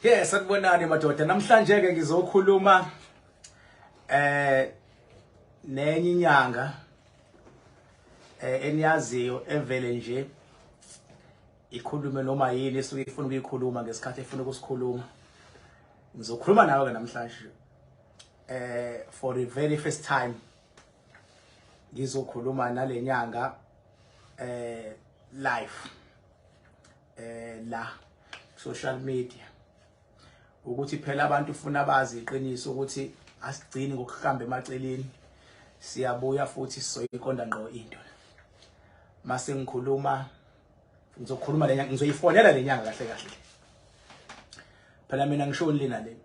Yes, sanibonani madoda. Namhlanje ke ngizokhuluma eh nenye inyanga eh eniyaziyo evele nje ikhulume noma yini esuke ifuna ukuyikhuluma ngesikhathi efuna ukusikhuluma. Ngizokhuluma nawe ke namhlanje. Eh for the very first time ngizokhuluma nalenyanga eh life eh la social media ukuthi phela abantu ufuna bazi iqiniso ukuthi asigcini ngokuhamba emaceleni siyabuya futhi sizoyiqonda ngqo into mase ngikhuluma ngizokhuluma lenyanga ngizoyifonela lenyanga kahle kahle phela mina ngishoni lena le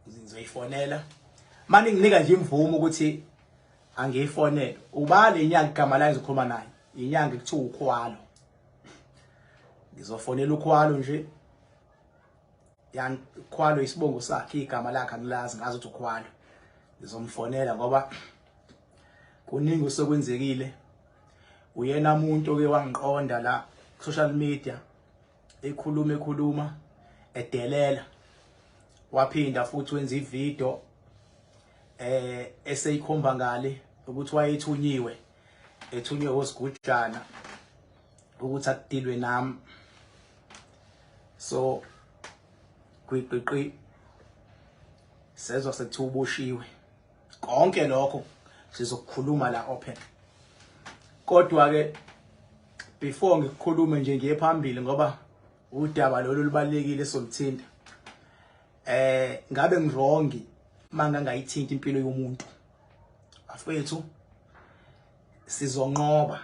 ngizoyifonela mani nginika nje imvumo ukuthi angiyifonele uba le nyanga igama layo ngizokhuluma naye inyanga kuthiwa ukhwalo ngizofonela ukhwalo nje yangikhwalo isibongo sakhe igama lakhe angilazi ngazi ukuthi ukhwalo ngizomfonela ngoba kuningi usekwenzekile uyena umuntu oke wangiqonda la social media ekhuluma ekhuluma edelela waphinda futhi wenza ivideo eh eseyikhomba ngale ukuthi wayethunyiwe ethunywe osigujana ukuthi akudilwe nami so gwiqiqi sezwa sekuthiwa uboshiwe konke lokho sizokukhuluma la open kodwa ke before ngikukhulume nje ngiye phambili ngoba udaba lolu lubalekile soluthinta eh ngabe ngirongi mangangayithinta impilo yomuntu afethu sizonqoba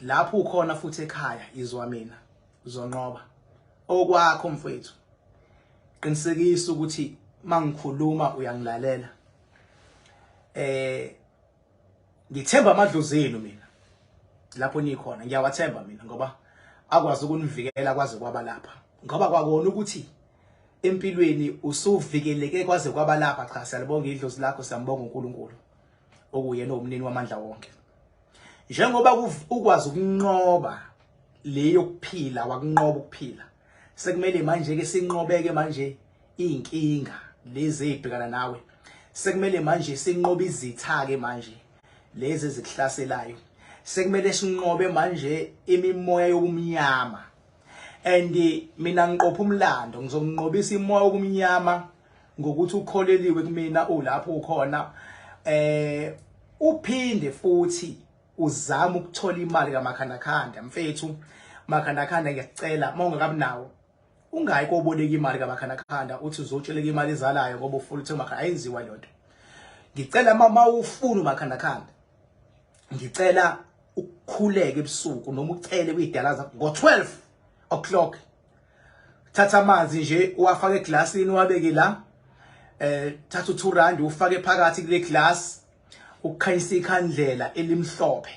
lapho ukhona futhi ekhaya izwa mina uzonqoba okwakho mfowethu qinisekisa ukuthi mangikhuluma uyangilalela eh ngithemba amadlozi enu mina lapho nikhona ngiyawathemba mina ngoba akwazi ukunivikela kwaze kwaba lapha ngoba kwakona ukuthi empilweni usuvikeleke kwaze kwaba lapha cha siyalibonga idlozi lakho siyambonga uNkulunkulu okuyena umnini wamandla wonke njengoba ukwazi ukunqoba leyo kuphila wakunqoba ukuphila sekumele manje ke sinqobeke manje inkinga lezi ezibhekana nawe sekumele manje sinqobe izitha ke manje lezi ezikuhlaselayo sekumele sinqobe manje imimoya yokumnyama and mina ngiqopha umlando ngizonqobisa imoya yokumnyama ngokuthi ukholeliwe kumina ulapho ukhona eh uphinde futhi uzama ukuthola imali kamakhandakhanda mfethu makhandakhanda ngiyacela uma ungakabi nawo ungayi koboleka imali kamakhandakhanda uthi uzotsheleka imali ezalayo ngoba ufuna ukuthi makha ayenziwa leyo nto ngicela mama ufuna umakhandakhanda ngicela ukukhuleke ebusuku noma ucele kuyidala zakho ngo-12 o'clock thatha amanzi nje uwafake eglasini uwabeke la eh thatha u2 rand ufake phakathi kule glass ukukhanyisa ikhandlela elimhlophe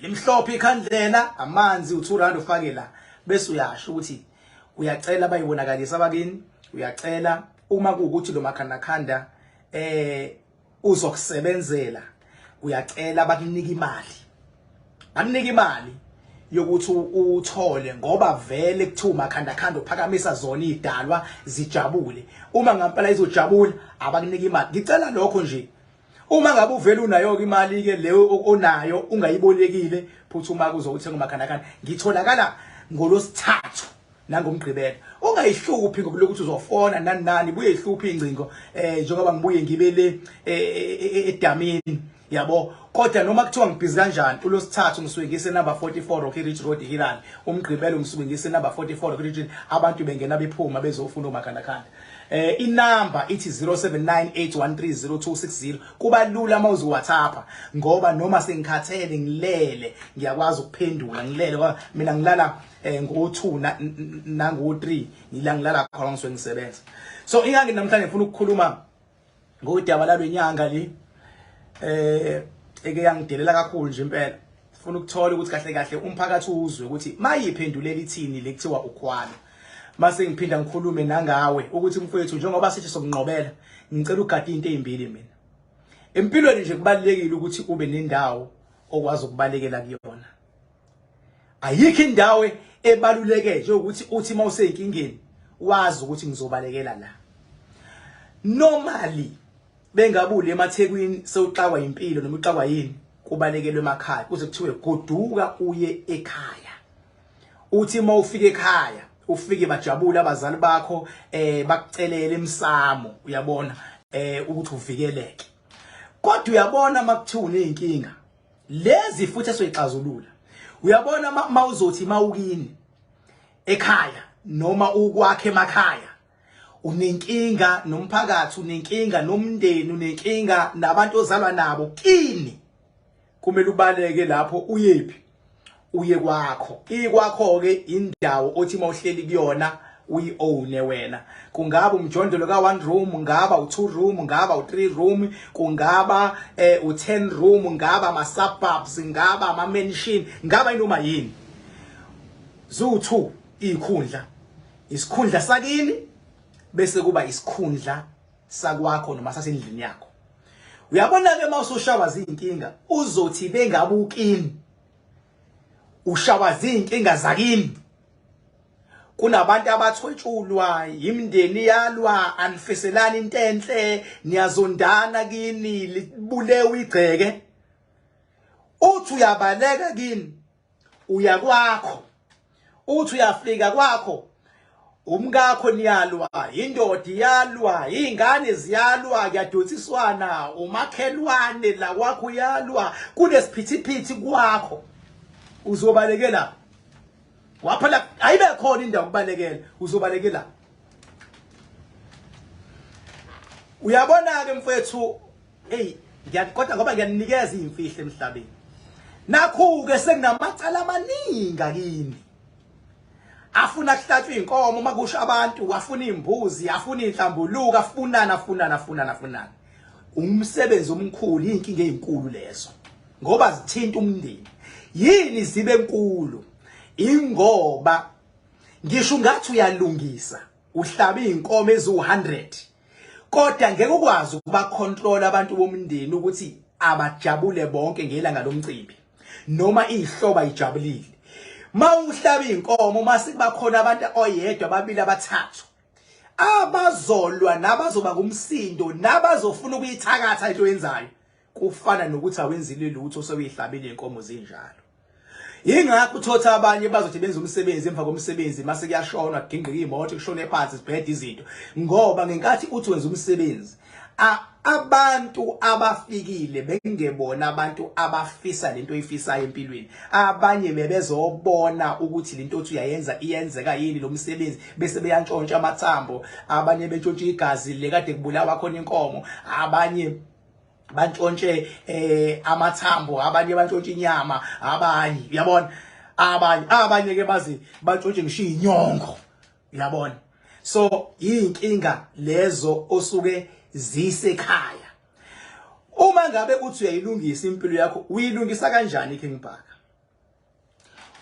limhlophe ikhandlela amanzi u2 rand ufake la bese uyasho ukuthi uyacela bayibonakalisa bakini uyacela uma kuukuthi lo makhanda khanda eh uzokusebenzela uyacela bakunika imali bakunika imali yokuthi uthole ngoba vele kuthiwa makhanda khanda uphakamisa zona idalwa zijabule uma ngampela izojabula abakunika imali ngicela lokho nje uma ngabe uvele unayo ke imali ke leyo onayo ungayibolekile phuthuma kuzo uthenga umakhanda khanda ngitholakala ngolosithathu nangomgqibelo ungayihluphi ngokulokuthi uzofona nani nani buye ihluphi ingcingo eh njengoba ngibuye ngibe le edamini e, e, e, yabo kodwa noma kuthiwa ngibhizi kanjani ulosithathu ngisuke ngise number 44 Rocky Ridge Road Hilal umgqibelo ngisuke ngise number 44 Rocky Ridge abantu bengena bephuma bezofuna omakhanda khanda eh inamba ithi 0798130260 kuba lula uma uzi WhatsApp ngoba noma sengikhathele ngilele ngiyakwazi ukuphendula ngilele mina ngilala eh ngo-2 nango-3 ngila ngilala khona ngisuke ngisebenza so ingangi namhlanje ngifuna ukukhuluma ngodaba lalenyanga li eh eke yangidelela kakhulu nje impela ngifuna ukuthola ukuthi kahle kahle umphakathi uzwe ukuthi mayiphendulela ithini lekuthiwa ukhwala mase ngiphinda ngikhulume nangawe ukuthi mfowethu njengoba sithi sokunqobela ngicela ugade into ezimbili mina empilweni nje kubalekile ukuthi ube nendawo okwazi ukubalekela kuyona ayikho indawo ebaluleke nje ukuthi uthi uma useyinkingeni wazi ukuthi ngizobalekela la normally bengabuli emathekwini sewuxakwa impilo noma uxakwa yini kubalekelwe emakhaya kuze kuthiwe goduka uye ekhaya uthi uma ufika ekhaya ufike bajabule abazali bakho eh bakucelele emsamo uyabona eh ukuthi uvikeleke kodwa uyabona makuthiwa unenkinga lezi futhi esoyixazulula uyabona mawuzothi mawukini ekhaya noma ukwakhe emakhaya unenkinga nomphakathi unenkinga nomndeni unenkinga nabantu ozalwa nabo kini kumele ubaleke lapho uyephi uye kwakho ikwakho-ke indawo othi uma uhleli kuyona uyi-owne wena kungaba umjondolo ka-one room ngaba u-two room ngaba u-three room kungaba eh, u-ten room ngaba ama-suburbs ngaba ama-mansion ngaba inoma yini ziwu-two iy'khundla isikhundla sakini bese kuba isikhundla sakwakho noma sasendlini yakho uyabona-ke uma usushawa ziyinkinga uzothi bengabukini ushawa zinkinga zakini kunabantu abathwetshulwa yimndeni yalwa anifiselani into enhle niyazondana kini libulewe igceke uthi uyabaleka kini uya kwakho uthi uyafika kwakho umkakho niyalwa indoda iyalwa izingane ziyalwa kuyadonsiswana umakhelwane la kwakho uyalwa kunesiphithiphithi kwakho uzobalekela waphela ayibe khona indawo kubalekela uzobalekela uyabona ke mfethu Hey ngiyaqoda ngoba ngiyaninikeza imfihlo emhlabeni nakhu ke sekunamacala amaningi kini afuna kuhlatshwa inkomo makusho abantu afuna imbuzi afuna inhlambuluka afunana afunana afunana afunana umsebenzi omkhulu inkinga ezinkulu lezo ngoba zithinta umndeni yini zibe enkulu ingoba ngisho ngathi uyalungisa uhlaba izinkomo eziwu100 kodwa ngeke ukwazi ukubacontrol abantu bomndeni ukuthi abajabule bonke ngelanga lomcimbi noma ihloba ijabulile mawuhlaba inkomo mase kubakhona abantu oyedwa ababili abathathu abazolwa nabazoba kumsindo nabazofuna ukuyithakatha into yenzayo kufana nokuthi awenzile lutho sewuyihlabile inkomo zinjalo yingakho uthotha abanye bazothi benza umsebenzi emva komsebenzi mase kuyashonwa kudingqika imoto kushone phansi sibhede izinto ngoba ngenkathi uthi wenza umsebenzi abantu abafikile bengebona abantu abafisa lento oyifisayo empilweni abanye bebezobona ukuthi lento othi uyayenza iyenzeka yini lo msebenzi bese beyantshontsha amathambo abanye bentshontsha igazi le kade kubulawa khona inkomo abanye bantshontshe eh amathambo abanye bantshontshe inyama abanye uyabona abanye abanye ke bazi bantshontshe ngisho inyongo uyabona so yinkinga lezo osuke zisekhaya uma ngabe uthi uyayilungisa impilo yakho uyilungisa kanjani king bhaka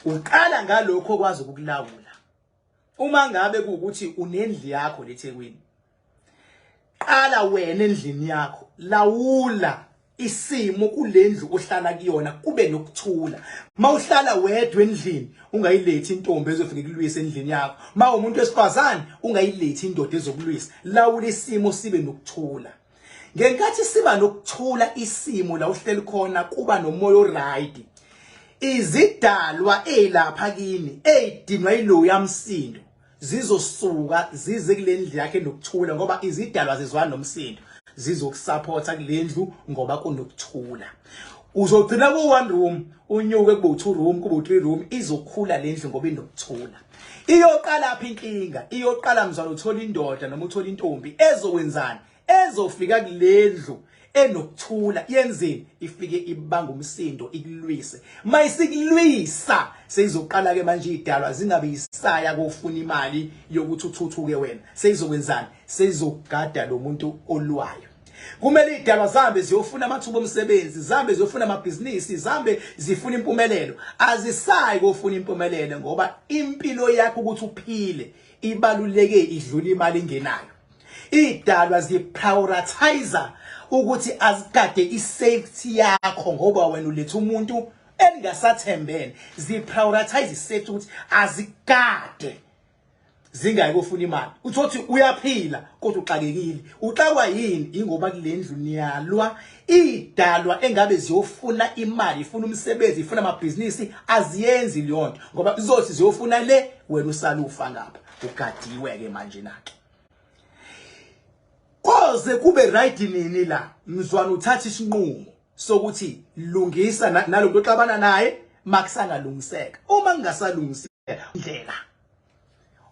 uqala ngalokho okwazi ukukulawula Uma ngabe kuwukuthi unendli yakho leThekwini, qala wena endlini yakho, lawula isimo kulendlu ohlala kuyona kube nokuthula mawuhlala wedwa endlini ungayilethi intombi ezofike kulwisa endlini yakho mawumuntu wesifazane ungayilethi indoda ezokulwisa lawula isimo sibe nokuthula ngenkathi siba nokuthula isimo la uhleli khona kuba nomoya oright izidalwa ezilapha kimi ezidinwa ilowo yamsindo zizosuka zize kulendlu yakhe nokuthula ngoba izidalwa zizwana nomsindo zizokusupporta kulendlu ngoba kunokuthula uzogcina ku one room unyuke kubo two room kubo three room izokhula lendlu ngoba inokuthula Iyoqalaphi inkinga? Iyoqala mzalo uthola indoda noma uthola intombi ezokwenzani? Ezofika kulendlu enokuthula yenzeni ifike ibanga umsindo ikulwise mayisikulwisa seyizoqala ke manje idalwa zingabe isaya kofuna imali yokuthi uthuthuke wena seyizokwenzani seyizogada lomuntu olwayo Kumele idalwa zihambe ziyofuna amathuba omsebenzi, zihambe ziyofuna amabhizinisi, zihambe zifuna impumelelo. Azisayi kofuna impumelelo ngoba impilo yakho ukuthi uphile ibaluleke idlula imali engenayo. Idalwa ziprioritize ukuthi azikade isafety yakho ngoba wena uletha umuntu engasathembene. Ziprioritize isafety ukuthi azikade zingayike ufuna imali uthothi uyaphila kodwa uxakekile uxakwa yini ingoba kulendlu niyalwa idalwa engabe ziyofuna imali ifuna umsebenzi ifuna amabhizinisi aziyenzi leyonto ngoba izothi ziyofuna le wena usalufa ngapha ugadiwe ke manje nake koze kube right nini la mzwana uthatha isinqumo sokuthi lungisa nalomuntu oxabana naye makusangalungiseka uma kungasalungiseka indlela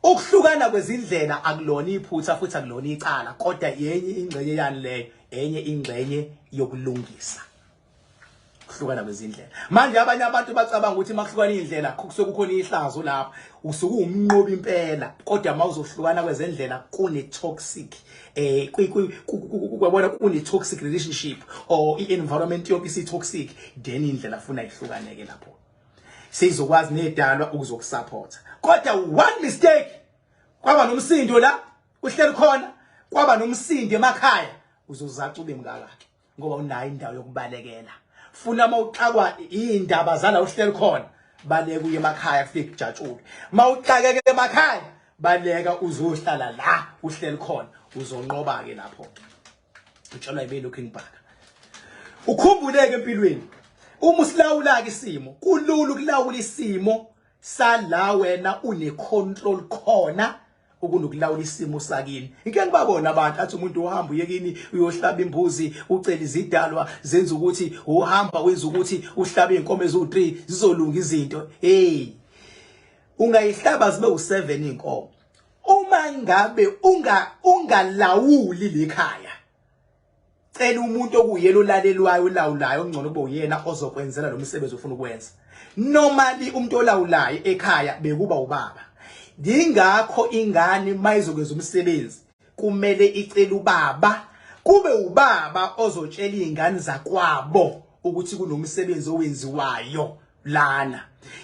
ukuhlukana kwezindlela akulona iphutha futhi akulona icala kodwa yenye ingxenye yani leyo enye ingxenye yokulungisa kuhlukana kwezindlela manje abanye abantu bacabanga ukuthi makuhlukana indlela kusuke kukhona ihlazo lapha usuke umnqobi impela kodwa mawuzohlukana kwezendlela kune toxic eh kwabona kune toxic relationship or i environment yonke isi toxic then indlela funa ihlukaneke lapho sizokwazi nedalwa ukuzokusupporta kodwa one mistake kwaba nomsindo la uhleli khona kwaba nomsindo emakhaya uzozaca ube mngaka ke ngoba unayo indawo yokubalekela funa uma uxakwa iy'ndaba zala uhleli khona baleka uye emakhaya kufike kujatshulwe uma uxakeke emakhaya baleka uzohlala la uhleli khona uzonqoba-ke lapho utshelwa yibe lokhu engibhaka ukhumbuleke empilweni uma usilawula-ke isimo kulula ukulawula isimo sala wena une-control khona ukunokulawula isimo sakini ngike ngibabona abantu athi umuntu uhamba uyekini uyohlaba imbuzi ucela izidalwa zenza ukuthi uhamba wenza ukuthi uhlabe inkomo ezu3 zizolunga izinto hey ungayihlaba zibe u7 inkomo uma ngabe unga ungalawuli lekhaya Cela umuntu okuyena olalelwayo olawulayo ongcono kube uyena ozokwenzela lo msebenzi ofuna ukwenza. Normally umuntu olawulayo ekhaya bekuba ubaba. Ngingakho ingane mayizokwenza umsebenzi kumele icela ubaba kube ubaba ozotshela izingane zakwabo ukuthi kunomsebenzi owenziwayo lana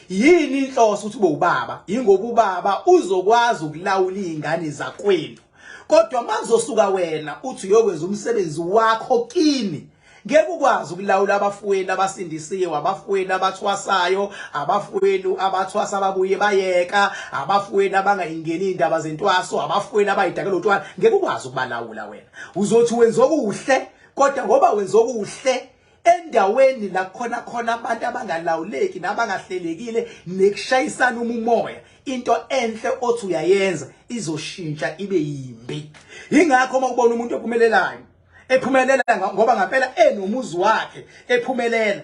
yini inhloso ukuthi bobaba ingoba ubaba uzokwazi ukulawula izingane zakwenu kodwa makuzosuka wena uthi uyokwenza umsebenzi wakho kini ngeke ukwazi ukulawula abafweni abasindisiwe abafweni abathwasayo abafweni abathwasa ababuye bayeka abafweni abangayingeni indaba zentwaso abafweni abayidakela utwana ngeke ukwazi ukubalawula wena uzothi wenza okuhle kodwa ngoba wenza okuhle endaweni la khona khona abantu abangalawuleki nabangahlelekile nekushayisana umumoya into enhle othi uyayenza izoshintsha ibe yimbi ingakho uma ubona umuntu ophumelelayo ephumelela ngoba ngampela enomuzi wakhe ephumelela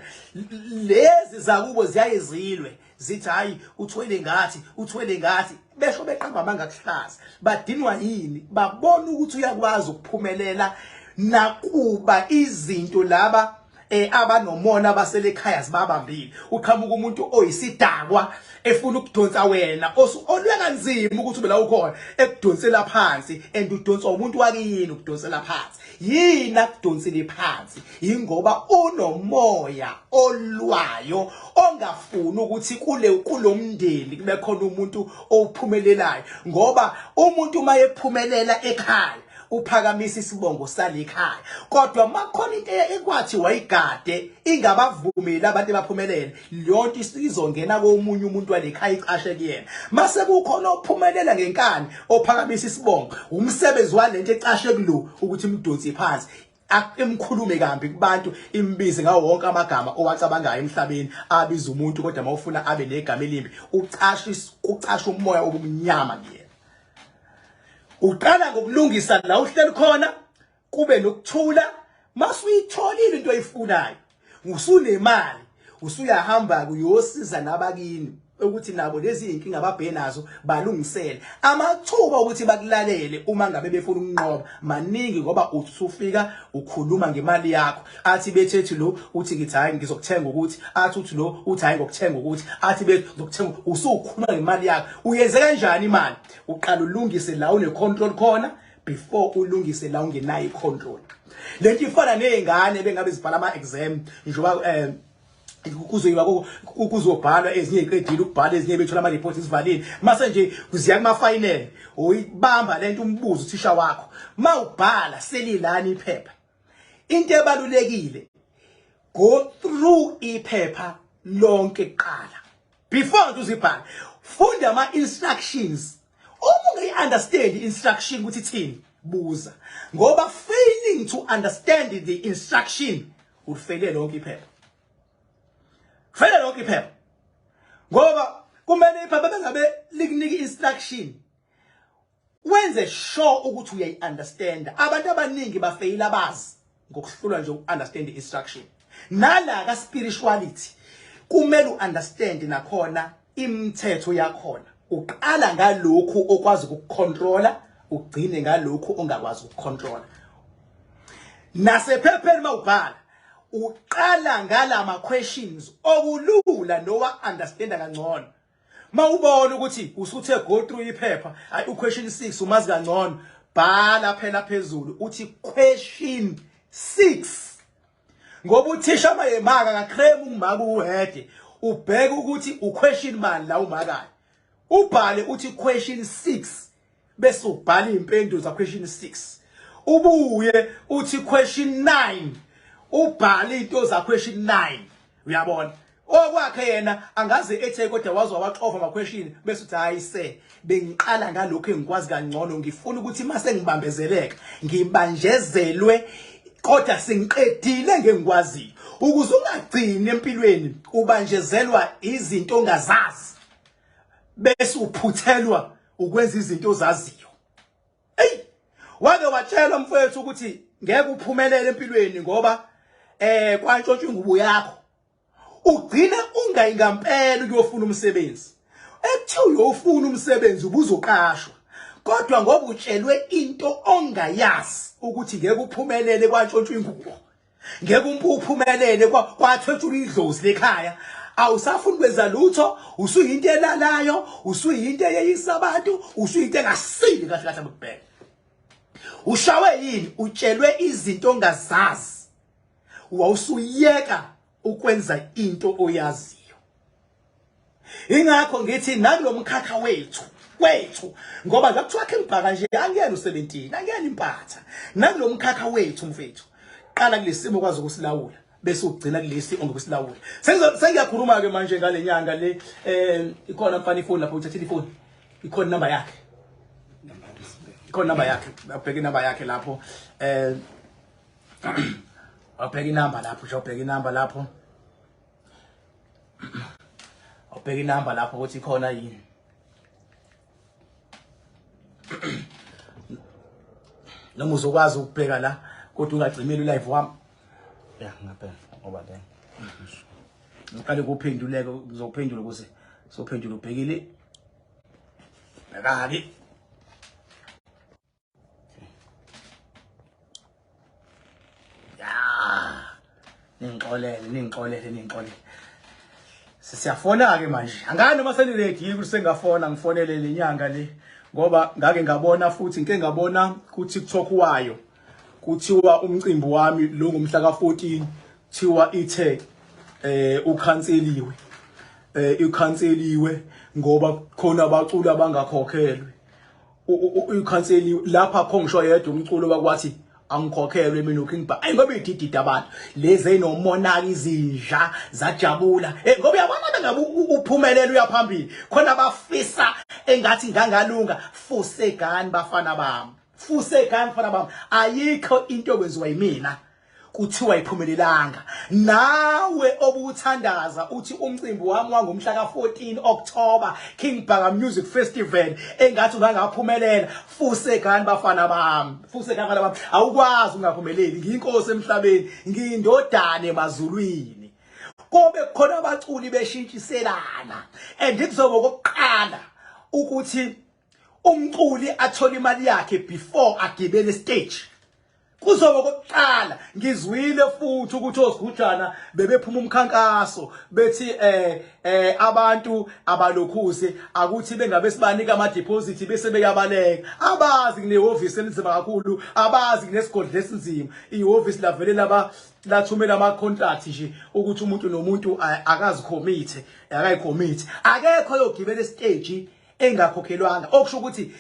lezi zakubo ziyayezilwe zithi hayi uthwele ngathi uthwele ngathi besho beqamba amanga kuhlaza badinwa yini babona ukuthi uyakwazi ukuphumelela nakuba izinto laba eh abanomona baselekhaya sibabambile uqhamuka umuntu oyisidakwa efuna ukudonsa wena olwe kanzima ukuthi ube la ukhona ekudonsela phansi and udonswa umuntu wakini ukudonsela phansi yini akudonsele phansi yingoba unomoya olwayo ongafuni ukuthi kule kulomndeni kube khona umuntu ophumelelayo ngoba umuntu uma ephumelela ekhaya uphakamisa isibongo salikhaya kodwa makhona into ekwathi wayigade ingabavumeli abantu abaphumelele leyonto isizongena komunye umuntu walekhaya icashe kuyena mase kukhona ophumelela ngenkani ophakamisa isibongo umsebenzi walento ecashe kulo ukuthi imdonsi phansi Imkhulume kambi kubantu imbize ngawo wonke amagama owacabangayo emhlabeni abiza umuntu kodwa mawufuna abe negama elimbi ucasha ucasha umoya obumnyama kuyena. Uqala ngokulungisa la uhleli khona kube nokuthula masuyitholile into oyifunayo usunemali usuyahamba kuyosiza nabakini ukuthi nabo lezi inkinga babhe nazo balungisele amathuba ukuthi bakulalele uma ngabe befuna ukunqoba maningi ngoba usufika ukhuluma ngemali yakho athi bethethi lo uthi ngithi hayi ngizokuthenga ukuthi athi uthi lo uthi hayi ngokuthenga ukuthi athi bezokuthenga usukhuluma ngemali yakho uyenze kanjani imali uqala ulungise la une control khona before ulungise la ungenayo icontrol lento ifana nezingane bengabe zibhala ama exam njoba eh kuzoyiwa kuzobhalwa ezinye iqedile ukubhala ezinye bethola ama reports isivalile mase nje kuziya kuma final uyibamba lento umbuzo uthisha wakho mawubhala selilani iphepha into ebalulekile go through iphepha lonke kuqala before uzibhala funda ama instructions uma ungayiunderstand instruction ukuthi ithini buza ngoba failing to understand the instruction ufele lonke iphepha fele lonke iphepha ngoba kumele iphepha bengabe likunike instruction Wenze sure ukuthi uyayi understand. Abantu abaningi bafeyila bazi ngokuhlulwa nje ukunderstand instruction. Nala ka spirituality kumele uunderstand nakhona imithetho yakhona. Uqala ngalokhu okwazi ukucontrola ugcine ngalokhu ongakwazi ukucontrola. Nasephepheni mawubhala uqala ngalama questions okulula nowa understanda kangcono mawubona ukuthi usuthe go through iphepha ay u question 6 umazi kangcono bhala phela phezulu uthi question 6 ngoba uthisha mayemaka ka creme umaka uhede ubheke ukuthi u question mani la umakayo ubhale uthi question 6 bese ubhala impendulo za question 6 ubuye uthi question 9 ubhala into za question 9 uyabona okwakhe yena angaze ethe kodwa waze wawaxova ama question bese uthi hayi se bengiqala ngalokho engikwazi kangcono ngifuna ukuthi mase ngibambezeleka ngibanjezelwe kodwa sengiqedile ngengikwaziyo ukuze ungagcini empilweni ubanjezelwa izinto ongazazi bese uphuthelwa ukwenza izinto ozaziyo eyi wake watshelwa mfowethu ukuthi ngeke uphumelele empilweni ngoba eh kwantshontshwa ingubo yakho ugcina ungayi ngampela ukuyofuna umsebenzi ekuthiwa uyofuna umsebenzi ubuzoqashwa kodwa ngoba utshelwe into ongayazi ukuthi ngeke uphumelele kwantshontshwa ingubo ngeke umpuphumelele kwathwetshula idlozi lekhaya awusafuni kwenza lutho usuyinto elalayo usuyinto eyeyisa abantu usuyinto engasile kahle kahle abukubheka ushawe yini utshelwe izinto ongazazi wawusuyeka ukwenza into oyaziyo ingakho ngithi nakulomkhakha wethu kwethu ngoba la kuthiwa khe ngibhaka nje angiyena u17 angiyena impatha nakulomkhakha wethu mfethu qala kulesimo kwazi ukusilawula bese ugcina kulesi ongokusilawula sengiyakhuluma ke manje ngalenyanga le eh ikhona mfana ifoni lapho uthathile ifoni ikhona number yakhe ikhona number yakhe abheke number yakhe lapho eh abheke number lapho ubheke number lapho awubheka inamba lapho ukuthi ikhona yini noma uzokwazi ukubheka la kodwa ungagcimeli live wami ya ngabheka ngoba le ngiqale kuphenduleke ngizophendula ukuthi sophendula ubhekile ngakaki ningixolele ningixolele ningixolele siyafona-ke manje angani noma seniredi yini ukuthi sengafona ngifonele le nyanga le ngoba ngake ngabona futhi ngike ngabona ku-tiktok wayo kuthiwa umcimbi wami lo ngomhla ka-14 kuthiwa ithe eh ukhanseliwe eh ikhanseliwe ngoba khona abaculi abangakhokhelwe uyikhanseli lapha kho ngisho yedwa umculo wakwathi angikhokhelwe mina uking ba ayi ngoba ididida abantu lezi enomonaka izinja zajabula hey eh, ngoba yabona bengabe uphumelela uyaphambili khona bafisa engathi ngangalunga fusegani bafana bami fusegani bafana bami ayikho into okwenziwa yimina kuthiwa iphumelelanga nawe obuthandaza uthi umcimbi wami wangomhla ka-14 October King Bhaka Music Festival engathi ungangaphumelela fusekani bafana bami fusekani bafana bami awukwazi ungaphumeleli ngiyinkosi emhlabeni ngiyindodane mazulwini kobe khona abaculi beshintshiselana and kuzobe kokuqala ukuthi umculi athola imali yakhe before agibele stage kuzoba kokuqala ngizwile futhi ukuthi osigujana bebephuma umkhankaso bethi eh eh abantu abalokhuze akuthi bengabe sibanika ama deposit bese beyabaleka abazi kunehhovisi elinzima kakhulu abazi kunesigodle esinzima ihhovisi lavele laba lathumela ama contract nje ukuthi umuntu nomuntu akazi commit akayi commit akekho yogibela stage engakhokhelwanga okusho ukuthi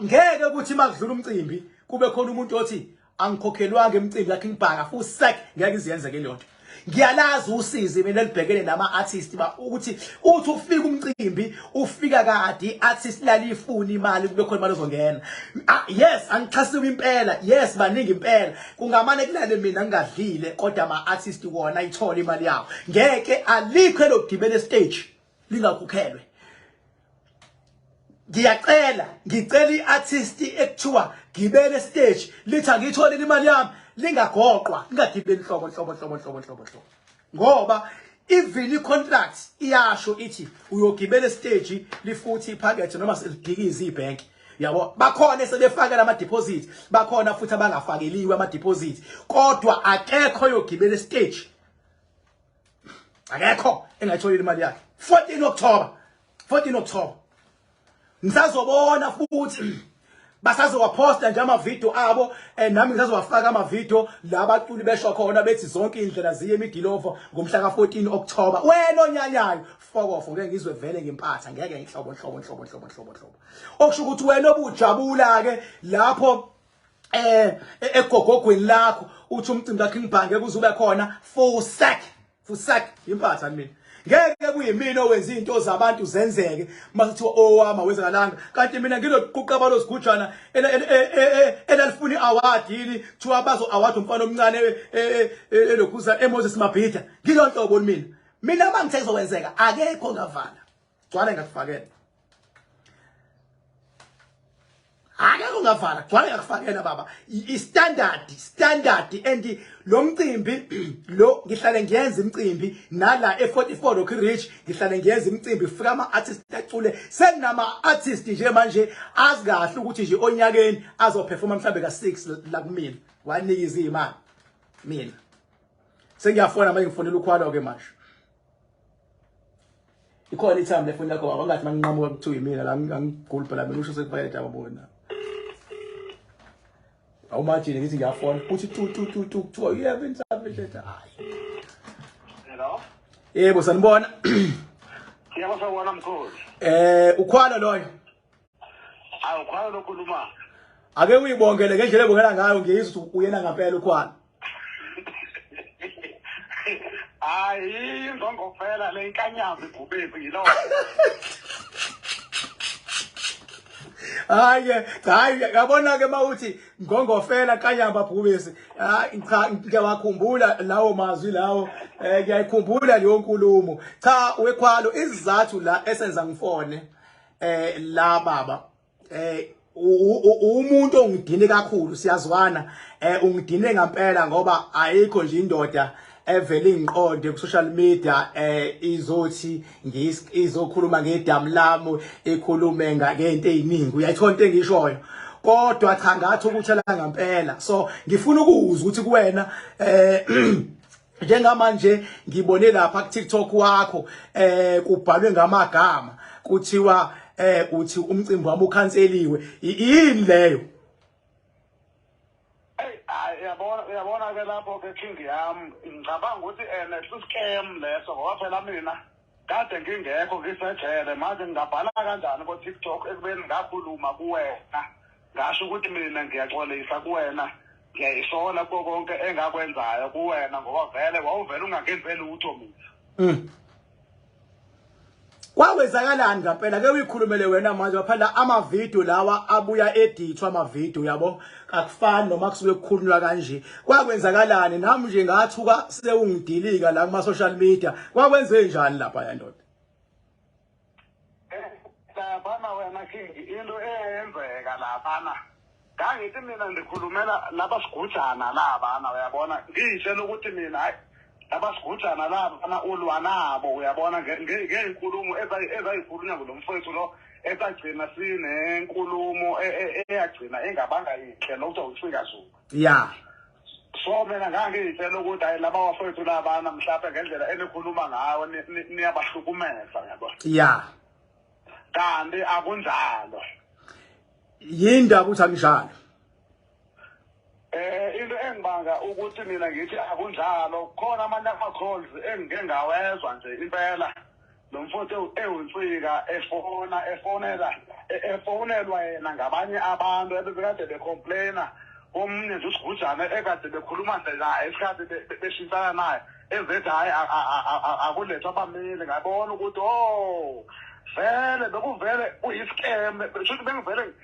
ngeke ukuthi makudlula umcimbi kube khona umuntu othi angikhokhelwanga emcimbi yakhe ngibhaka futhi sek ngeke iziyenze ke lonto ngiyalazi usizi mina libhekene nama artist ba ukuthi uthi ufika umcimbi ufika kade artist lalifuna imali kube khona imali ozongena ah, yes angixhasiwe impela yes baningi impela kungamane kulale mina ngingadlile kodwa ama artist wona ayithola imali yawo ngeke alikho elogibela stage lingakhokhelwe ngiyacela ngicela iartist ekuthiwa gibele stage lithi angiyithole imali yami lingagoqwa lingagibeli hlobo hlobo hlobo hlobo hlobo hlobo ngoba even icontract iyasho ithi uyogibela stage lifuthi iphakethe noma selidikiza ibhank yabo bakhona sebefaka lama deposit bakhona futhi abangafakeliwe ama deposit kodwa akekho yogibela stage akekho engayitholile imali yakhe 14 October 14 October ngisazobona futhi basazowaposta nje amavideo abo eh, nami ngisazowafaka amavideo la baculi besho khona bethi zonke indlela ziye emigilovo ngomhla ka14 October wena onyanyayo fokofo ngeke ngizwe vele ngempatha ngeke inhlobo inhlobo inhlobo inhlobo inhlobo inhlobo okusho ukuthi wena obujabula ke lapho eh egogogweni lakho uthi umcimbi ka King Bhange kuzube khona fusak fusak impatha mina ngeke kuyimina owenza izinto zabantu zenzeke makuthiwa owama oh, wezakalanga kanti mina ngiloquqa balo sigujana e, e, e, elalifuni award yini kuthiwa bazo award umfana omncane elokhuza eMoses Mabhida ngilonto bona mina mina mangithe kuzowenzeka akekho ngavala gcwale ngakufakela akekho ungavala gcwale ngakufakela baba istandard standard and lo mcimbi lo ngihlale ngiyenza imcimbi nala e44 Rock Ridge ngihlale ngiyenza imcimbi fika ama artist acule senama artist nje manje azi kahle ukuthi nje onyakeni azoperforma mhlambe ka 6 la kumina wanika izimali mina sengiyafona manje ngifonela ukhwalo ke manje ikhona ithambo lefoni yakho baba ngathi manginqamuka kuthiwa yimina la ngigula phela mina usho sekupakethe ababona awumajini ngithi ngiyafona uthi tu tu tu tu kuthiwa uyebe insambe nhleta hayi hello yebo sanibona siyabona mkhulu eh ukhwalo loyo Awu khona lokhuluma. Ake uyibongele ngendlela ebongela ngayo ngiyizwa ukuthi uyena ngempela ukhwana. Hayi inzongo phela le inkanyazi ibhubezi yilowo. hayi ke hayi yabona ke mawuthi ngongofela kanyamba bhubesi hayi cha ngiyawakhumbula lawo mazwi lawo eh ngiyayikhumbula leyo nkulumo cha wekhwalo izizathu la esenza ngifone eh la baba eh umuntu ongidine kakhulu siyazwana eh ungidine ngempela ngoba ayikho nje indoda evele ingiqonde ku social media eh izothi ngizokhuluma ngedamu lami ikhulume ngento eziningi uyayithona into engishoyo kodwa cha ngathi ukuthela ngempela so ngifuna ukuzwa ukuthi kuwena eh njengamanje ngibone lapha ku TikTok wakho eh kubhalwe ngamagama kuthiwa eh uthi umcimbi wami ukhanseliwe yini leyo yabona yabona ke lapho ke king yam ngicabanga ukuthi ene eh, siscam leso ngoba phela mina Kade ngingekho ngisejele manje ngingabhala kanjani ko TikTok ekubeni ngakhuluma kuwena ngasho ukuthi mina ngiyaxolisa kuwena ngiyayisola kuko konke engakwenzayo kuwena ngoba vele wawuvele ungangenze lutho mina mm. kwawenzakalani ngampela ke uyikhulumele wena manje baphandla amavidiyo lawa abuya edithwa amavidiyo yabo akufani noma kusuke kukhulunywa kanje kwakwenzakalani nami nje ngathuka sewungidilika la kuma social media kwakwenze njani lapha ya ndoda Bana eh, wena King into eyenzeka laphana ngangithi mina ndikhulumela laba sigujana labana uyabona ngiyitshela ukuthi mina hayi abasigujana labo bana ulwa nabo uyabona ngey'nkulumo ezayikhulunywa kulo mfowethu lo esagcina sinenkulumo e, e, e, eyagcina engabanga yinhle lokuthiwa ucikazulu ya so mina ngangiyitshela ukuthi hayi laba wafowethu labana mhlawumbe ngendlela enikhuluma ngawo niyabahlukumeza yabo ya kanti akunjalo yini ndaba ukuthi anginjalo Eh into engibanga ukuthi mina ngithi akunjalo khona amanye ama calls engike ngawezwa nje impela nomfuthu ewunsika efona efonela e- efonelwa yena ngabanye abantu ebebekade becomplaina omunye nje usigujana ekade bekhuluma nje naye isikhathi be- be- beshintshana naye ezethi hhayi a- a- a- a- a- akulethwa abameli ngabona ukuthi o vele bekuvele kuyisikem shuthi bengivele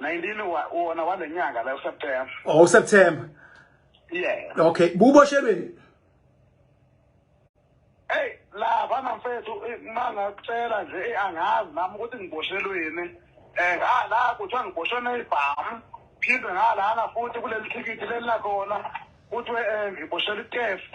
19 wona wale nyanga la uSeptember. Oh uSeptember. Yeah. Okay, buboshelweni. Hey, la bana mfethu eh, manga kucela nje eh, angazi nami ukuthi ngiboshelweni. Eh, ha ah, la kuthiwa ngiboshwe nezibhamu. Phinde ngalana futhi kuleli thikithi leli lakhona kuthiwe eh, ngiboshela i-test.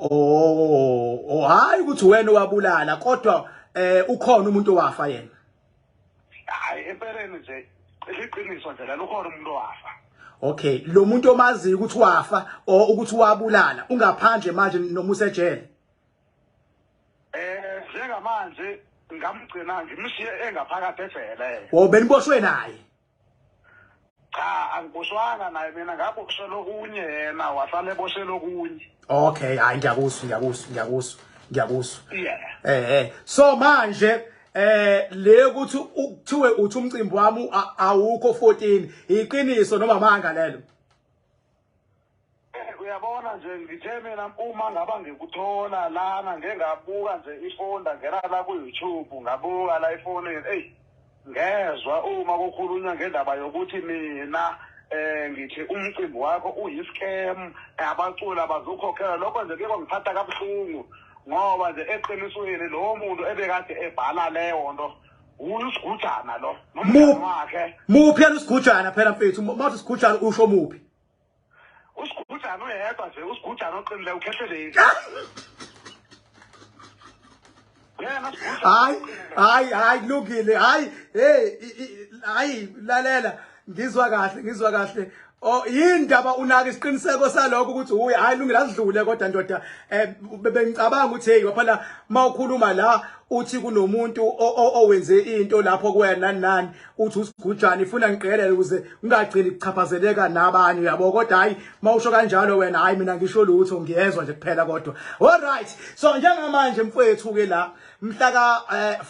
oh oh hayi ukuthi wena wabulala kodwa eh ukhona umuntu owafa yena hayi empeleni nje liqiniso nje lalo ukhona umuntu owafa okay lo muntu omaziyo ukuthi wafa o ukuthi wabulala ungaphandle manje noma usejele eh njengamanje ngamgcina ngimshiye engaphakathi ejele wo beniboshwe naye cha angiboshwanga naye mina ngaboshelwa okunye yena wasala eboshelwa okunye okay hayi ngiyakuzwa ngiyakuzwa ngiyakuzwa ngiyakuzwa yeah eh eh so manje eh le ukuthi kuthiwe uthi umcimbi wami awukho 14 iqiniso noma manga lelo Eh, uyabona nje ngithe mina uma ngaba ngikuthola lana ngeke ngabuka nje ifoni ndangena la ku-youtube ngabuka la efonini eyi ngezwa uma kukhulunywa ngendaba yokuthi mina eh ngithi umcimbi wakho uyiscam abaculi abazukhokhela lokho nje kuyeko ngiphatha kabuhlungu ngoba nje eqinisweni lowo muntu ebekade ebhala leyo nto uyisigujana lo nomngane wakhe muphi yena usigujana phela mfethu mawuthi usigujana usho muphi usigujana uyedwa nje usigujana oqinile ukhehleleki hayi hayi hayi kulungile hayi hey hayi lalela ngizwa kahle ngizwa kahle Oh yindaba unaka isiqiniseko saloko ukuthi uyi hayi lungile asidlule kodwa ndoda eh bengicabanga ukuthi hey waphela mawukhuluma la uthi kunomuntu owenze into lapho kuwena nani uthi usigujana ifuna ngiqhelele ukuze ungagcini kuchaphazeleka nabanye yabo kodwa hayi mawusho kanjalo wena hayi mina ngisho lutho ngiyezwa nje kuphela kodwa all right so njengamanje mfowethu ke la mhla ka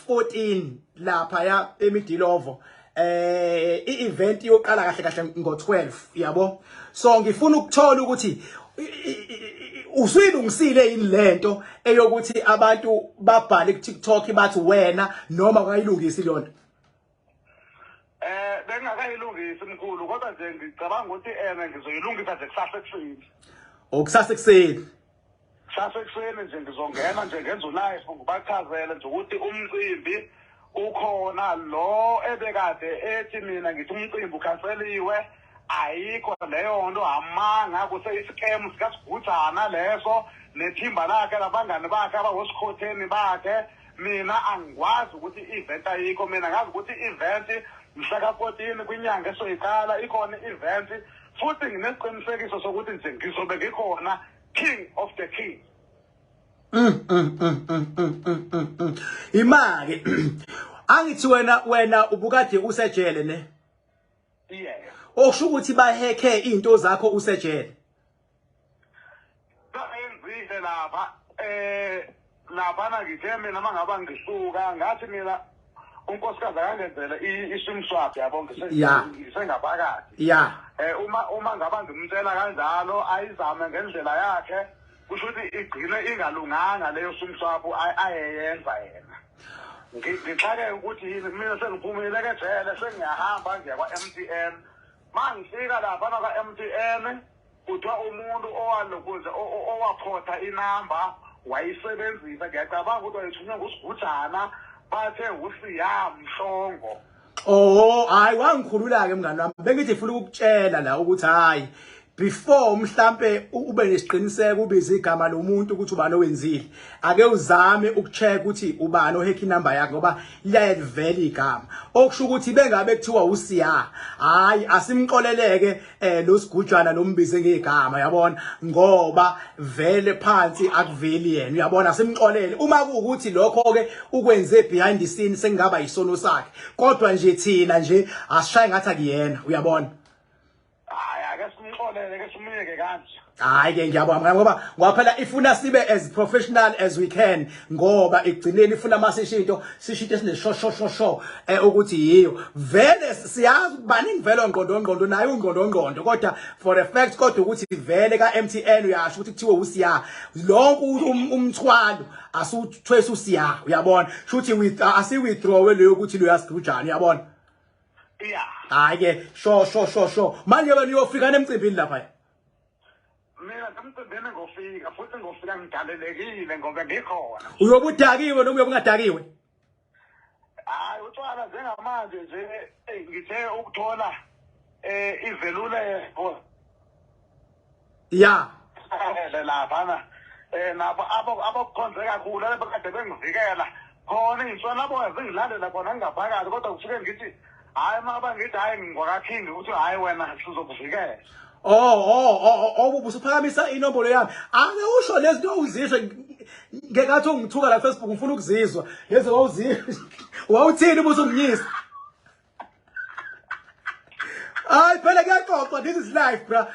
14 eh, lapha ya emidilovo eh i-event iyoqala kahle kahle ngo-12 yabo so ngifuna ukuthola ukuthi usuyilungisile yini lento eyokuthi abantu babhale ku-TikTok bathi wena noma kayilungisi leyo nto eh bengakayilungisi mkhulu kodwa nje ngicabanga ukuthi ena ngizoyilungisa nje kusasa ekuseni okusasa ekuseni sasekuseni nje ngizongena nje ngenza ulife ngibachazele nje ukuthi umcimbi ukhona lo ebekade ethi mina ngithi umcimbi ukhanseliwe ayikho leyo nto amanga kuseyisikemu sikasiguthana leso nethimba lakhe labangani bakhe abawosikhotheni bakhe mina angikwazi ukuthi i-event ayikho mina ngazi ukuthi i-event mhla ka-fourteen kwinyanga esoyiqala ikhona i-event futhi nginesiqinisekiso sokuthi nje ngizobe ngikhona king of the king imake angithi wena wena ubukade usejele ne yeah okusho ukuthi baheke izinto zakho usejele bayenzile lapha eh Laphana ngithe mina uma ngaba ngisuka ngathi mina unkosikazi akangenzele i-sim swap yabo ngisengaphakathi ya um uma uma ngaba ngimtshela kanjalo ayizame ngendlela yakhe kusho ukuthi igcine ingalunganga leyo sim swap ayeyenza yena ngixakeke ukuthi yini mina sengiphumile ke jele sengiyahamba ngiya kwa-m t n ma ngifika laphana kwa-m t n Kuthiwa umuntu owalokoza owaphotha inamba wayisebenzisa ngiyacabanga ukuthi wayethunywe ngusigujana bathe usiya mhlongo Oh hayi wangikhulula ke mngani wami bengithi ngifuna ukukutshela la ukuthi hayi before mhlambe ube nesiqiniseko ubiza igama lomuntu ukuthi ubani owenzile ake uzame ukucheck ukuthi ubani ohack inamba yakhe ngoba liyalivela igama okusho ukuthi bengabe kuthiwa usiya hayi asimxoleleke eh lo sigujana lombize ngegama yabona ngoba vele phansi akuveli yena uyabona simxolele uma kuukuthi lokho ke ukwenze behind the scene sengaba isono sakhe kodwa nje thina nje asishaye ngathi akuyena uyabona hayi ake simxolele ke simyeke kanje hayi ke ngiyabonga ngoba kwaphela ifuna sibe as professional as we can ngoba igcineni ifuna masishinto sishinto esineshoshosho eh ukuthi yiyo vele siyazi baningi vele ongqondo ongqondo naye ungqondo ongqondo kodwa for a fact kodwa ukuthi vele ka MTN uyasho ukuthi kuthiwe usiya lonke um, umthwalo asuthwesa usiya uyabona shuthi with uh, asi withdraw leyo ukuthi lo yasgrujana uyabona yeah hayi ke sho sho sho sho manje wena uyofika nemcimbini lapha mina ngamcindini ngofika futhi ngofika ngigalelekile ngoba ngikhona uyobe udakiwe noma uyobe ungadakiwe hayi utshwala njengamanje nje ngithe ukuthola eh izeluleko ya lapha na eh nabo abakukhonze kakhulu abekade bengivikela khona iy'nswelaboya zingilandela khona ngingaphakathi kodwa kusuke ngithi hhayi uma bangithi hhayi ngingwakathini ukuthi hhayi wena sizokuvikela Oh oh oh oh ubusuphakamisa oh, inombolo yami. Ake usho lezinto ozizwe ngekathi ungithuka la Facebook ngifuna ukuzizwa. Lezo wawuzizwa. Wawuthini ubuso ngiyisa? Hayi phela kuyaxoxwa this is life bra.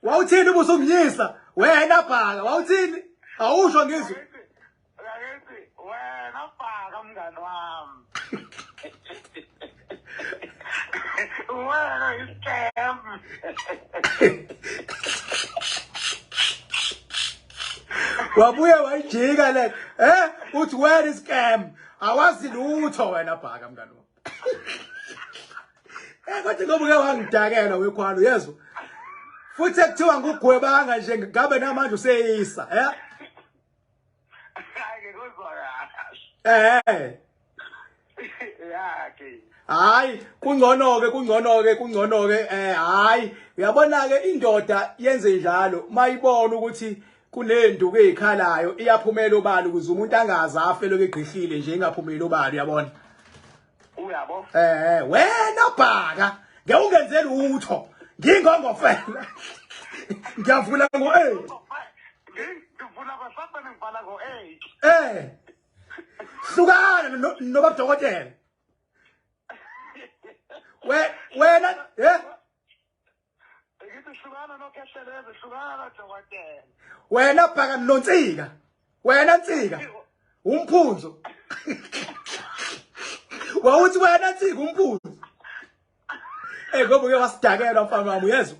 Wawuthini ubuso ngiyisa? Wena bhaka wawuthini? Awusho ngizwe. Ngakithi wena bhaka mngani wami. Wena iscam. Wabuye wayijika le. Eh, uthi wena iscam. Awazi lutho wena bhaka mngani wami. Eh kodwa ngoba uke wangidakela wekhwalo yezwa. Futhi ekuthiwa ngugwebanga nje ngabe namanje useyisa, eh? Eh. Yakhe. Hayi, kungcono ke kungcono ke kungcono ke eh hayi, uyabona ke indoda yenze njalo mayibona ukuthi kunenduku ezikhalayo iyaphumela obala ukuze umuntu angazi afe lokho egqihlile nje ingaphumeli obala uyabona. uyabo eh wena bhaka ngeke ungenze lutho ngingongofela ngiyavula ngo 8 ngivula kwasabe ngivala ngo 8 eh hlukana nobaba dokotela we wena eh wena bhaka nontsika wena ntsika umphunzo wawuthi wena ntsika umphunzo ey ngoba uke wasidakelwa mfana wami uyezwa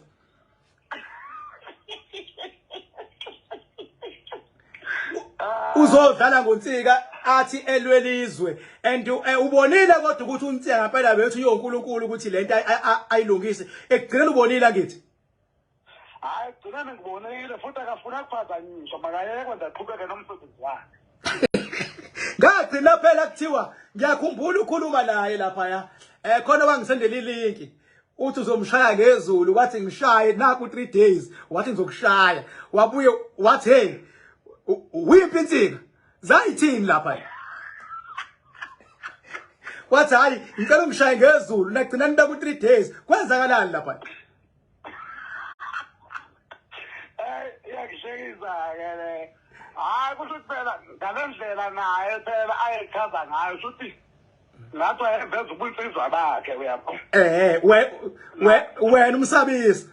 uzodlala ngonsika athi elwelizwe and eh, ubonile kodwa ukuthi untsika ngempela bethu yonkulunkulu ukuthi lento ayilungise ekugcineni ubonile ngithi hayi gcineni ngibonile futhi akafuna kuphazanyiswa makayeke kwenza qhubeke nomsebenzi wakhe ngagcina phela kuthiwa ngiyakhumbula ukhuluma naye lapha ya eh khona wangisendela ilinki uthi uzomshaya ngezulu wathi ngishaye naku 3 days wathi ngizokushaya wabuye wathi hey wiphi insika zayithini lapha wathi hayi ngicela ungishaye ngezulu nagcina nibe ku 3 days kwenzakalani lapha iyangishekisa-ke le hhayi kusho ukuthi phela ngale ndlela naye phela ayechaza ngayo shuthi lapho eveza ubunsizwa bakhe uyabo eh we we wena umsabisi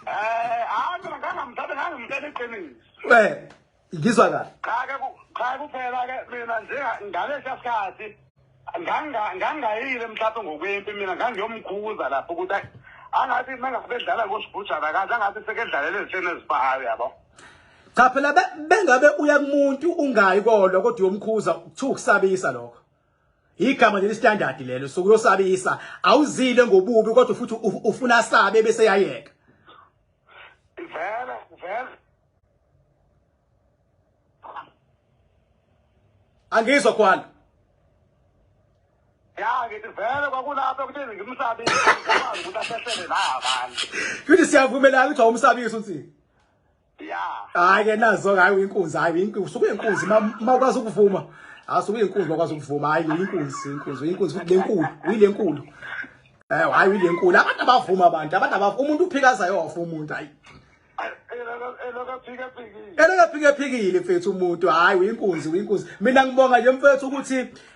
eh hayi mina ngangamthatha ngangimthatha iqiniso we ngizwa kahle cha ke cha kuphela ke mina nje ngalesa sikhathi nganga ngangayile mhlawumbe ngokwempi mina ngangiyomkhuza lapho ukuthi angathi mengabe edlala kusibhujana kahle angathi sekedlalela ezitheni ezibahayo yabo cha phela bengabe uya kumuntu ungayi kodwa kodwa uyomkhuza kuthiwa ukusabisa lokho igama leli standard lelo sokuyosabisa awuzile ngobubi kodwa futhi ufuna sabe bese yayeka vele vele angizwa khona ya ngithi vele kwakulapho ukuthi ngimsabise ukuthi asehlele la abantu futhi siyavumelana ukuthi awumsabisi unsini Yeah. Hayi ke nazo hayi uyinkunzi hayi uyinkunzi usuke uyinkunzi makwazi ukuvuma. Hayi usuke uyinkunzi makwazi ukuvuma hayi uyinkunzi uyinkunzi uyinkunzi lenkulu uyilenkulu. Eh hayi uyilenkulu abantu abavuma abantu abantu abavuma umuntu uphikaza yofa umuntu hayi. Elakaphike phikile mfethu umuntu hayi uyinkunzi uyinkunzi mina ngibonga nje mfethu ukuthi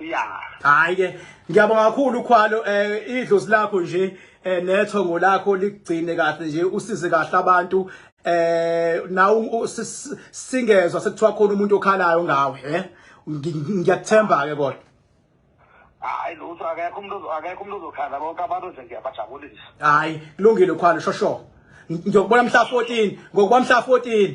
Yeah. Hayi ke ngiyabonga kakhulu ukhwalo eh idlozi lakho nje eh nethongo lakho ligcine kahle nje usize kahle abantu eh nawu singezwe sekuthiwa khona umuntu okhalayo ngawe eh ngiyathemba ke kodwa hayi lutho akekho umuntu akekho umuntu ozokhala bonke abantu nje ngiyabajabulisa hayi kulungile ukhwalo shosho ngiyokubona mhla 14 ngokuba mhla 14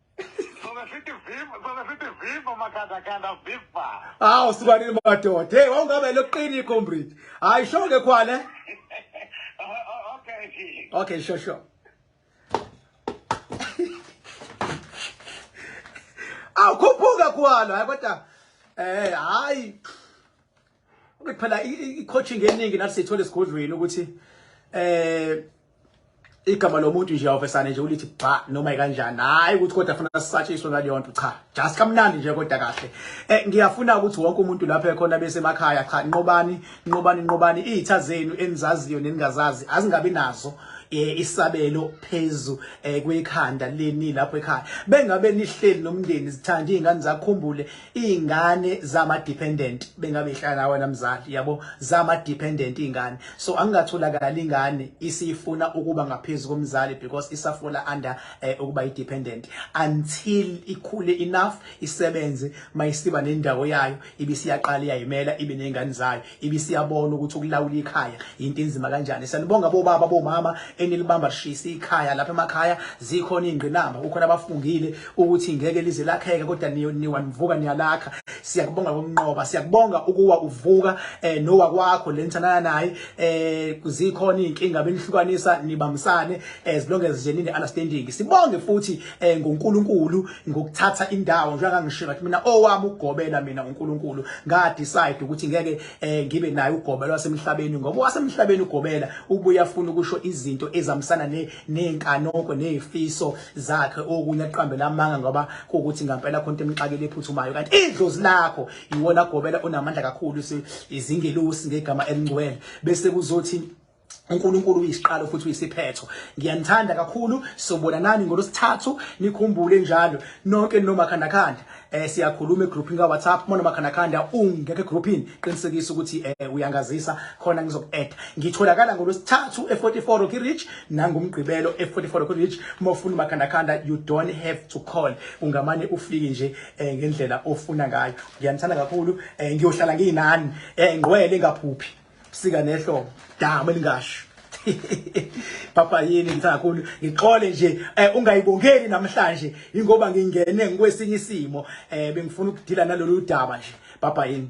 Sona sithi viva, sona sithi viva makhandakanda viva. Hawu sibanini madoda. Hey wawungabe loqini comrade. Hayi sho ke khwale. Okay. Okay, sure sure. Awukhuphuka khwalo hayi kodwa eh hayi Okay phela i coaching eningi nathi sithola esigodlweni ukuthi eh igama lomuntu nje awuvesane nje ulithi bha noma kanjani hayi ukuthi kodwa afuna sisatshiswe ngaleyo nto cha just kamnandi nje kodwa kahle eh ngiyafuna ukuthi wonke umuntu lapha ekhona bese emakhaya cha nqobani nqobani nqobani izitha zenu enizaziyo neningazazi azingabi nazo eh, isabelo phezu eh, kwekhanda leni lapho ekhaya bengabe nihleli nomndeni zithanda izingane zakhumbule iy'ngane zama-dependent bengabe ihlala nawe namzali yabo zama-dependent iy'ngane so angingatholakali ingane isifuna ukuba ngaphezu komzali because isafola under eh, ukuba yi-dependent until ikhule enough isebenze mayisiba nendawo yayo ibisiyaqala iyayimela ibe ney'ngane zayo ibisiyabona ukuthi ukulawula ikhaya into enzima kanjani sanibonga bobaba bomama enilibamba lishisa ikhaya lapha emakhaya zikhona ingqinamba ukhona abafungile ukuthi ngeke lize lakheke kodwa niwa nivuka niyalakha siyakubonga ngokunqoba siyakubonga ukuwa uvuka eh nowa kwakho lenithanana naye eh kuzikhona inkinga benihlukanisa nibamsane as long as nje nine understanding sibonge futhi eh ngoNkulunkulu ngokuthatha indawo njengoba ngishilo ukuthi mina owami ugobela mina uNkulunkulu nga decide ukuthi ngeke eh, ngibe naye ugobela wasemhlabeni ngoba wasemhlabeni ugobela ubuya funa ukusho izinto ezamsana ne nenkanoko nezifiso zakhe okunye aqambela amanga ngoba ukuthi ngampela khonto emxakile ephuthumayo kanti idlozi lakho yiwona gobela onamandla kakhulu izingelosi ngegama elingcwele bese kuzothi uNkulunkulu uyisiqalo futhi uyisiphetho ngiyanithanda kakhulu sobona nani ngolosithathu nikhumbule njalo nonke nomakhandakhanda eh siyakhuluma egroupini ka WhatsApp mona makhandakhanda ungeke groupini qinisekisa ukuthi eh uyangazisa khona ngizoku-add ngitholakala ngolosithathu e44 Rocky Ridge nangomgqibelo e44 Rocky Ridge mofuna makhandakhanda you don't have to call ungamane ufike nje eh, ngendlela ofuna ngayo ngiyanithanda kakhulu eh, ngiyohlala nginani eh, ngqwele ngaphuphi Sika nehlo dama lingasho. Papa yini ngithakhulu ngixole nje eh, ungayibongeli namhlanje ingoba ngingene ngikwesinye isimo eh bengifuna ukudila nalolu daba nje papa yini